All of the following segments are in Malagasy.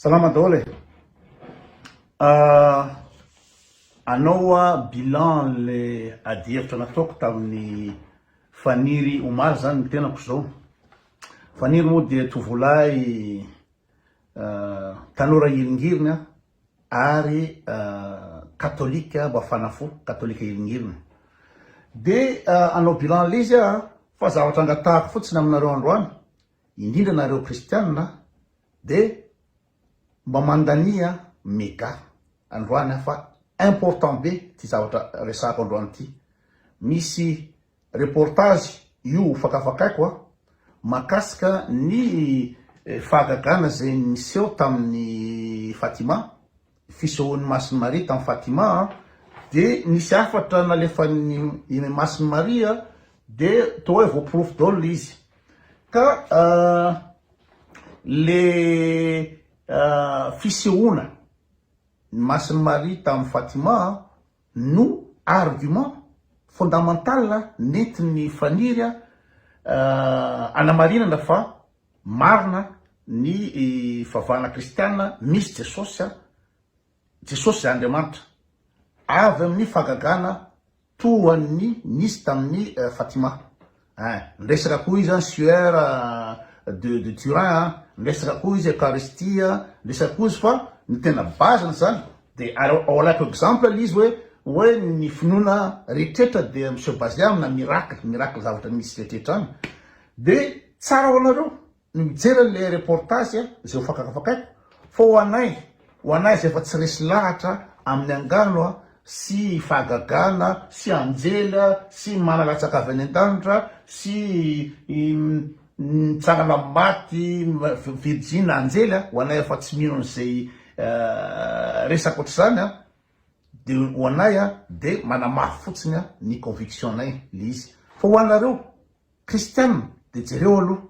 Salama daholo e! Hanao hoa bilan an'le adihevitra nataoko tamin'ny Faniry omaly zany ny tenako zao. Faniry moa dia tovolahy tanora hiringirina ary katolika mafana fo, katolika hiringirina. Dia hanao bilan an'le izy aho fa zavatra angatahako fotsiny aminareo androany Indrindra nareo kristianina dia mba mandania mega androany aho fa important be ty zavatra resahako androany ty. Misy reportage io ho fakafakaiko a, mahakasika ny fahagagana izay niseho tamin'i Fatima. fisehoan'i Masin'i Maria tany Fatima dia nisy hafatra nalefan'i Masin'i Maria dia toa hoe voaporofo daholo le izy ka le fisehoana ny Masin'i Maria tamin'i Fatima no argument fondamental nentin'ny faniry hanamarinana fa Marina ny fivavahana kristiana misy Jesosy a, Jesosy izay Andriamanitra, avy amin'ny fahagagana toa ny nisy tamin'i Fatima eh, niresaka koa izy an'i Sueur de de Turin a, niresaka koa izy Eucharistie a, niresaka koa izy fa ny tena base n'izany dia ary ao alaiko exemple le izy hoe hoe ny finoana rehetrretra dia mi se baser amina miracle, miracle zavatra misy rehetrretra any, De tsara ho anareo ny mijery anle reportage izay ho fakakafakaiko fa ho anay ho anay izay efa tsy resy lahatra aminy angano sy fahagagana sy anjely sy mana latsaka avy any andanitra sy mitsangana am maty virjina anjely ho anay efa tsy mino anizay resaka otrzany de ho anay de manamafy fotsiny ny conviction nay le izy fa ho anareo Christian de jereo aloha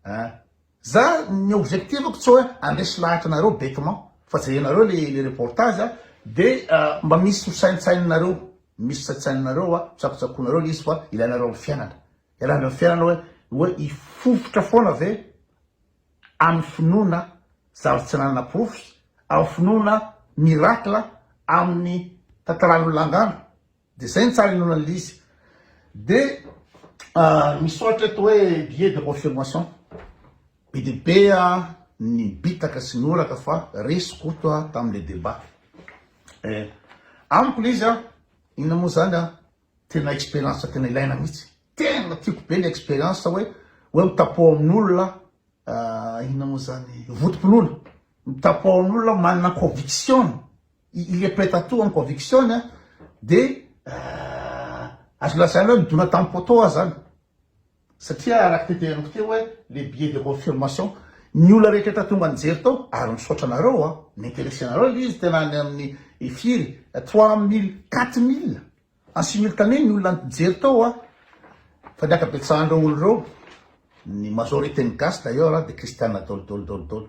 a! Za ny objectif-ko tsy hoe handresy lahatra anareo bêtement fa jerenareo le reportage a! de mba misy ho saintsaininareo, misy saintsaininareo a! Tsakotsakoinareo le izy fa ilainareo am fiainana, ialana am fiainana hoe hoe hifofotra foana ve am finoana zavatra tsy ananana porofo, am finoana miracle aminy tantaran'olona angano? Dia zay ny tsara inoana an'ilay izy. Dia misy soratra eto hoe billet de confirmation. Be dia be ny bitaka sy ny oraka fa resy Koto tamin'ilay débat. Eh, amiko ilay izy, inona moa izany, tena expérience tena ilaina mihitsy. Tena tiako be ny expérience hoe hoe mitapoha amin'olona inona moa izany, votom-pinoana. Mitapoha amin'olona manana conviction Il est prêt à tout amin'ny conviction-ny dia azo lazaina hoe midona tamin'ny poteau aza zany satria araka ny teneniko teo hoe le billet de confirmation ny olona rehetra efa tonga nijery tao ary misaotra anareo a ni-interesse anareo ilay izy tena any amin'ny firy trois mille quatre mille en simultané ny olona nijery tao a fa ny ankabetsahan'ireo olona ireo ny majorité ny gasy d'ailleurs dia kristiana daholo daholo daholo daholo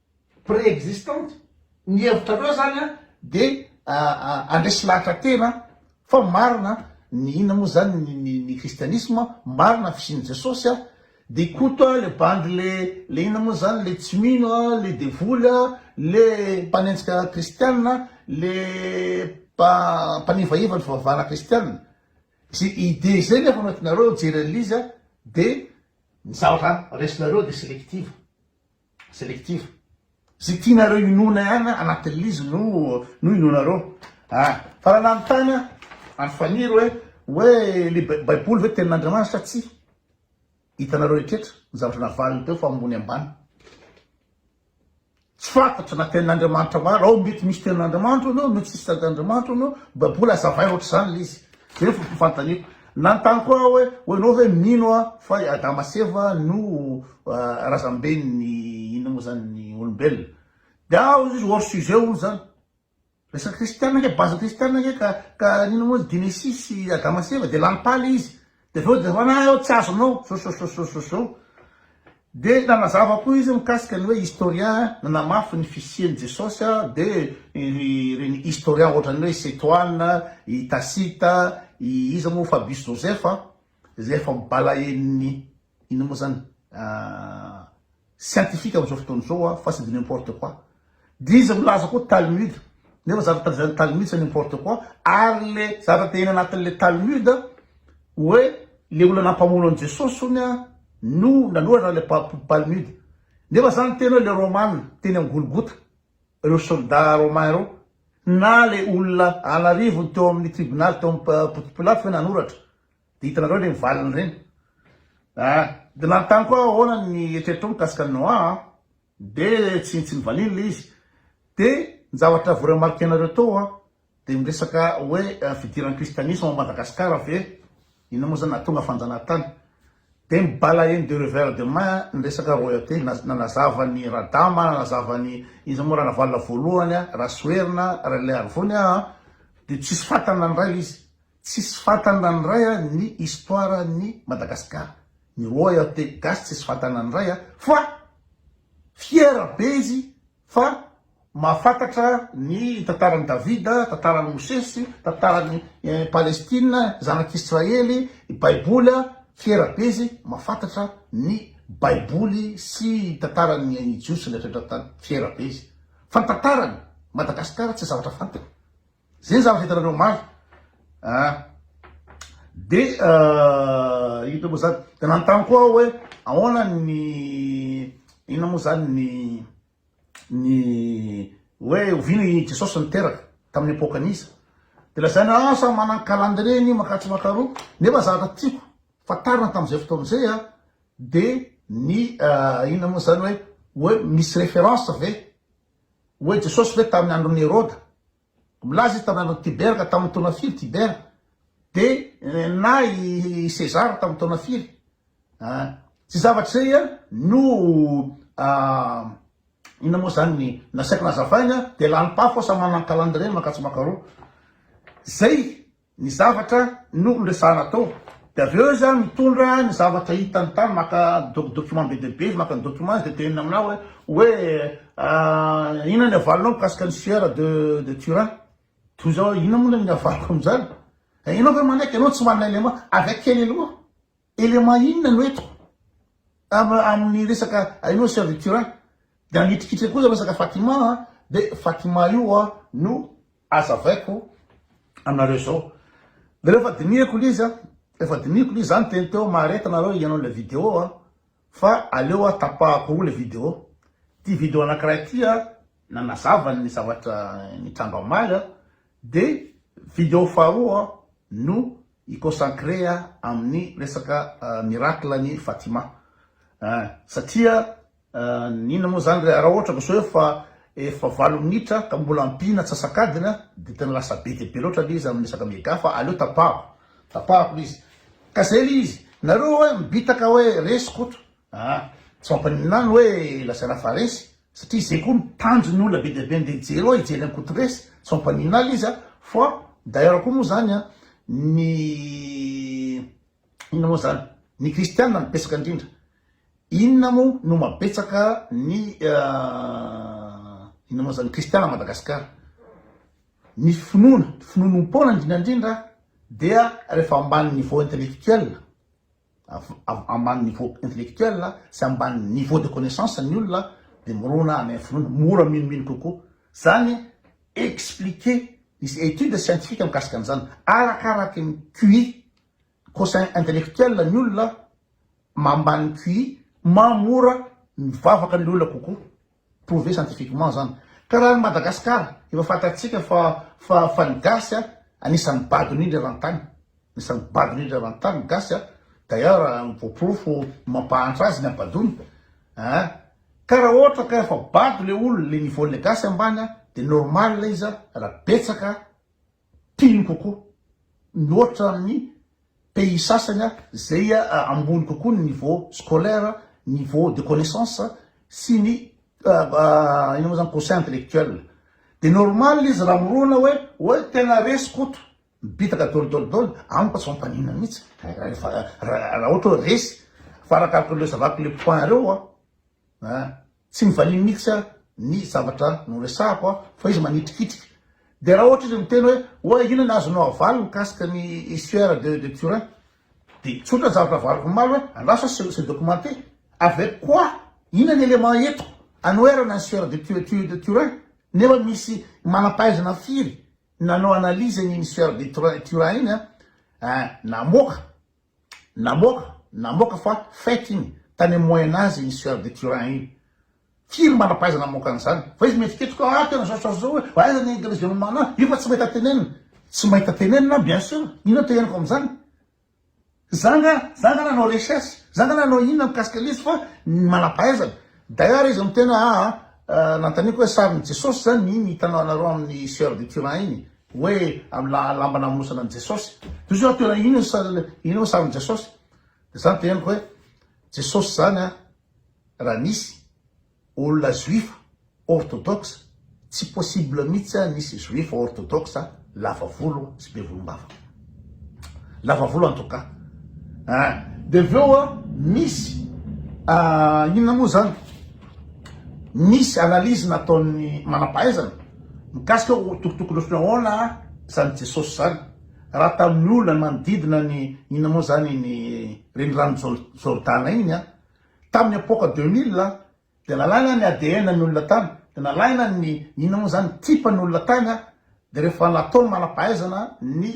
préexistante, ny hevitrareo zany an de andresy lahatra tena fa marina ny inona moa zany ny ny kristianisma, marina ny fisian'i Jesosy an, de koto le bandy le le inona moa zany le tsy mino an, le devoly an, le mpanenjika kristiana, le mpa mpanivaiva ny fivavahana kristiana, ze idée ze nefa no tinareo hijery an'izy an de ny zavatra resinareo de selective. selective. Ze tianareo inoana ihany anaty liz no no inoanareo a! Fa raha nanontana an'i Faniry hoe hoe le baiboly ve tenin'Andriamanitra sa tsia? Hitanareo retretra ny zavatra navaliny teo fa ambony ambany. Tsy fantatra na tenin'Andriamanitra marina ao mety misy tenin'Andriamanitra hono mety tsisy tenin'Andriamanitra hono baiboly azavaina ohatr'izany le izy. Zay foko fantany. Nanontany koa aho hoe, ho enao ve mino a fa i Adama sy Eva no razamben'ny inona moa zany ny olombelona? Dia aho hono izy hors sujet hono zany. Resaka kristiana ange, base kristiana ange ka ka inona moa izy Genesis sy Adama sy Eva dia lany pale izy. Dia avy eo dia hoanà eo tsy azonao. Sosososososo. Dia nanazava koa izy mikasika ny hoe historien nanamafy ny fisian'i Jesosy dia ireny historien ohatran'ny hoe i Setoana, i Tacite, i iza moa, Fabius Josèphe, izay efa balain'ny inona moa izany, scientifique amin'izao fotoana izao fa c'est de n'importe quoi, Dia izy milaza koa Talmud nefa zavatra tajain'ny Talmud c'est n'importe quoi ary le zavatra tehina anatin'le Talmud hoe le olona nampamono an'i Jesosy hono no nanoratra le Palmud nefa zany teny hoe le Roman teny am Golgota reo soldat Romain reo na le olona an'arivony teo amin'ny tribunal teo am Ponty Pilato hoe nanoratra dia hitanareo le valiny reny ah dia nanontany koa aho ahoana ny eritreritrao mikasika an'i Noa an Dia tsy tsy nivaliany le izy. Dia ny zavatra voremarque nareo tao a, dia miresaka hoe fidiran'ny kristianisme ao Madagascar ve, ina moa zany nahatonga fanjanahantany. Dia ny balayer de revers de main ny resaka royauté na nanazava ny Radama, nanazava ny iza moa Ranavalona voalohany a, Rasoherina, Ralearivony a, dia tsisy fantany na ny iray le izy. Tsisy fantany raha ny ray a ny histoire an'i Madagascar ny roy aho te gasy tsisy fantany raha ny ray a fa fiera be izy fa mahafantatra ny tantaran'i Davida, tantaran'i Mosesy, tantaran'i Palestine, zanak'Israely, baiboly a fiera be izy mahafantatra ny baiboly sy tantaran'ny jiosy rehetra eto an-tany fiera be izy fa ny tantaran'i Madagascar tsy zavatra fantany. Zay zavatra hitanareo omaly ah de ino moa zany de nanontany koa aho hoe ahoana ny inona moa zany ny ny hoe oviana i Jesosy niteraka tamin'ny epoka an'iza de lazaina ah samy manana calendrier ny makatsy makaroa nefa zavatra tiako fantarina tamin'izay fotoana izay ah de ny inona moa zany hoe hoe misy référence ve Hoy Jesosy ve tamin'ny andron'i Heroda, milaza izy tamin'ny andron'i Tibera ka tamin'ny taona firy Tibera, dia na i Sezara tamin'ny taona firy? Tsy zavatra izay no inona moa izany ny nasaiko nazavaina, dia lalim-pafy sao manana ny calendrier mankatsy mankaroa. Izay ny zavatra no resahana tao de avy eo izy a mitondra ny zavatra hitany tany maka doc document be dia be izy maka ny document izy de teneniny aminah hoe hoe inona ny havalinao mikasika ny sieur de de turin toy izao hoe inona moa le ny havaliko amin'izany ianao ve manaiky ianao tsy manana élément avy akely aloha Élément inona no eto? Ava amin'ny resaka hainao sœur du curé dia hanitrikitrika kosa resaka Fatima a, dia Fatima io a no azavaiko anareo zao. Dia rehefa dinihiko ilay izy a, rehefa dinihiko ilay izy za niteny teo mahareta nareo hihaino ilay vidéo a, fa aleo a tapahako roa ilay vidéo. Ity vidéo anankiray ity a nanazava ny zavatra nitranga omaly a, De video faharoa no hi consacrer amin'ny resaka miracle an'i Fatima eh, satria inona moa zany raha ohatra ka zao efa efa valo minitra ka mbola ampiana antsasak'adiny de tena lasa be dia be loatra le izy amin'ny resaka mega fa aleo tapahako tapahako le izy ka zay le izy, nareo hoe mibitaka hoe resy koto Ah, tsy mampaninona ny hoe lazaina fa resy, satria izay koa ny tanjon'ny olona be dia be andeha hijery ao, hijery an'i Koto resy, tsy mampaninona alo izy a, fa d'ailleurs koa moa izany a, ny inona moa izany, ny kristiana no betsaka indrindra, inona moa no mahabetsaka ny inona moa izany, ny kristiana à Madagascar, ny finoana, ny finoanoam-poana indrindra indrindra dia rehefa ambany niveau intellectuel, avy ambany niveau intellectuel sy ambany niveau de connaissance ny olona dia mirona any amin'ny finoana, mora minomino kokoa. Izany expliquer, misy étude scientifique mikasika an'izany, arakaraky ny QI, quotient intellectuel ny olona, mambany QI, maha mora ny vavaka ny olona kokoa. prouver scientifiquement zany. Ka raha any Madagascar efa fantatsika fa fa fa ny gasy a anisan'ny bado indrindra eran-tany, anisan'ny bado indrindra eran-tany ny gasy a, d'ailleurs ny voaporofo ny mampahantra azy ny habadoana a, ka raha ohatra ka efa bado le olona le niveau-n'le gasy ambany a de normal izy a raha betsaka tiany kokoa mihoatra amin'ny pays sasany a, izay ambony kokoa ny niveau scolaire, niveau de connaissance sy ny inona moa izany quotient intellectuel. Dia normal izy raha mirona hoe hoe tena resy Koto, mibitaka dol dol dol, amiko tsy mampaninona mihitsy rehefa raha ohatra hoe resy, fa arakaraka ireo zava-ko le point ireo an. Tsy mivaliany mihitsy aho ny zavatra noresahako aho fa izy manitrikitrika. Dia raha ohatra izy miteny hoe oay inona ny azonao avaly mikasika ny histoire de de Turin? Dia tsotra ny zavatra avariko omaly hoe andraso aho se documenter. Avec quoi? Inona ny élément entiko anoherana ny histoire de tu de Turin? Nefa misy manam-pahaizana firy nanao analyse an'iny histoire de Turin iny an? Namoaka. Namoaka, namoaka fa fake iny, tany amin'ny moyen age iny sieur de Turin iny. Firy manam-pahaizana namoaka an'izany? Fa izy mihetsiketsika hoe ah tena zao sy zao sy zao hoe aiza ny Église de Mamana an? Io fa tsy mahita tenenina. Tsy mahita tenenina bien sûr, inona no teneniko amin'izany? Za nga, za nga nanao recherche, za nga nanao inona mikasika an'ilay izy fa ny manam-pahaizana. D'ailleurs izy miteny hoe aa, nanontaniako hoe sarin'i Jesosy zany iny hitanao anareo amin'ny sieur de Turin iny? Hoe am la lamba namonosana an'i Jesosy. Toy izao toerana ino ny sa ino ny sarin'i Jesosy. Dia zany dia henoko hoe Jesosy zany a raha nisy olona juifa orthodoxe tsy possible mihitsy a nisy juifa orthodoxe lava volo sy be volom-bava. Lava volo en tout cas. Ah, de avy eo a misy ah, inona moa zany? Misy analyse nataon'ny manam-pahaizana mikasika ho tokotokony fihaona zany Jesosy zany. Raha tamin'ny olona manodidina ny inona moa zany ny renirano Jordana iny a, tamin'ny epoque 2000 Dia nalaina ny ADN ny olona tany, dia nalaina ny inona moa izany, type ny olona tany an, dia rehefa natao ny manam-pahaizana ny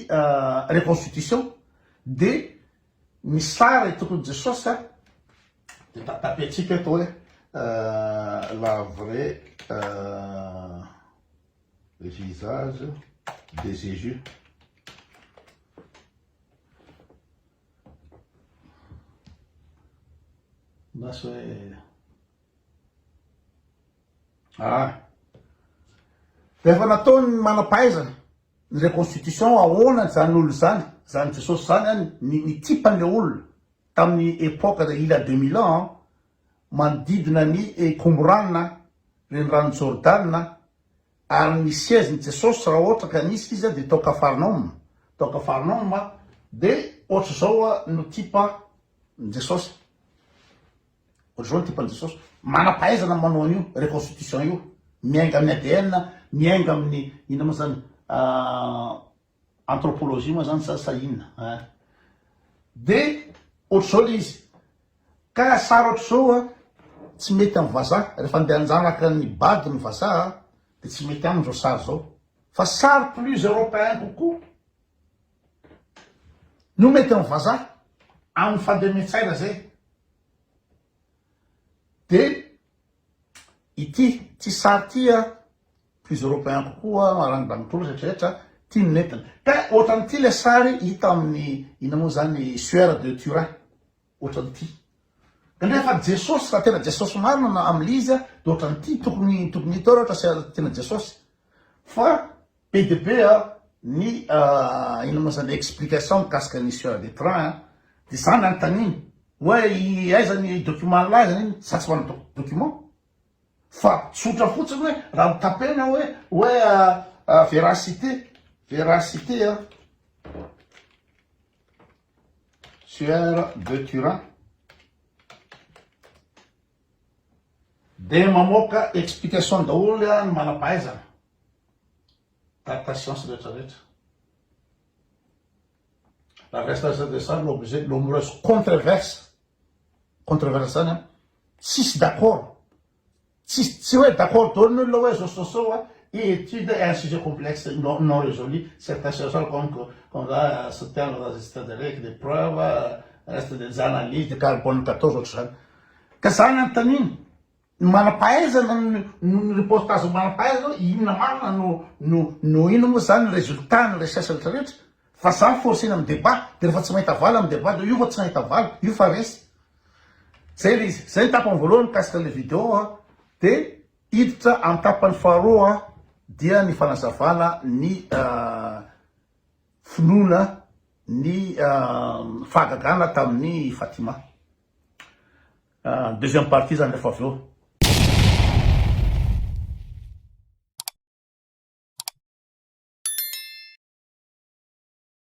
reconstitution dia ny sary itoko ny Jesosy an, dia ta tapentsika eto hoe la vraie visage de Jesus. na sao hoe ah rehefa nataony manam-pahaizana ny reconstitution ahoana izany olona izany izany jesosy izany any ny nitsipany le olona tamin'ny epoque de il a 2000 ans manodidina ny ekomborana renirano jordana Ary ny siège ny Jesosy raha ohatra ka nisy izy dia tao Kafarnaoma, tao Kafarnaoma dia ohatra izao no type ny Jesosy, ohatra izao ny type ny Jesosy, manam-pahaizana manao an'io reconstitution io, miainga amin'ny ADN, miainga amin'ny inona moa izany, Anthropologie moa zany sa sa inona a! de ohatr'izao le izy ka sary ohatr'izao a tsy mety amin'ny vazaha rehefa andeha hanjanaka ny bado ny vazaha de tsy mety aminy zao sary zao fa sary plus europeen kokoa no mety amin'ny vazaha amin'ny fandemen-tsaina zay de Ity ity sary ity a plus européen kokoa maran'ny banitolo rehetra rehetra ity no nentina ka ohatran'ity le sary hita amin'ny ina moa zany sueur de turin ohatran'ity indray fa jesosy raha tena jesosy marina na amlise de ohatran'ity tokony tokony hita ao raha ohatra tena jesosy fa Be dia be ny inona moa izany explication mikasika ny sieur de train a, dia izaho nanontaniana hoe aiza ny document nilaza iny izaho tsy manana document fa tsotra fotsiny hoe raha mitapena hoe hoe véracité véracité a sieur de turin dia mamoaka explication daholo ny manam-pahaizana. Par patience rehetra rehetra. Raha reste à des sary no obligé no mireuse contreverse. Contreverse zany an, tsisy d'accord. Tsisy tsy hoe d'accord daholo ny olona hoe zao zao zao an, étude est un sujet complexe non non résolu, certains chercheurs comme que comme ça soutient la résistance de règles, des preuves, reste des analyses, des carbone 14 ohatr'izany. Ka zany anontaniana. Ny manam-pahaizana noho ny reportage manam-pahaizana hoe inona marina no no no inona moa zany ny résultat ny recherche rehetra rehetra fa za mi-forcer-na amin'ny débat de rehefa tsy mahita valiny amin'ny débat de io fa tsy nahita valiny io fa resy. Zay le izy. Zay ny tapany voalohany mikasika an'le vidéo a. De hiditra amin'ny tapany faharoa dia ny fanazavana ny finoana ny fahagagana tamin'i Fatima. Deuxième partie zany rehefa avy eo.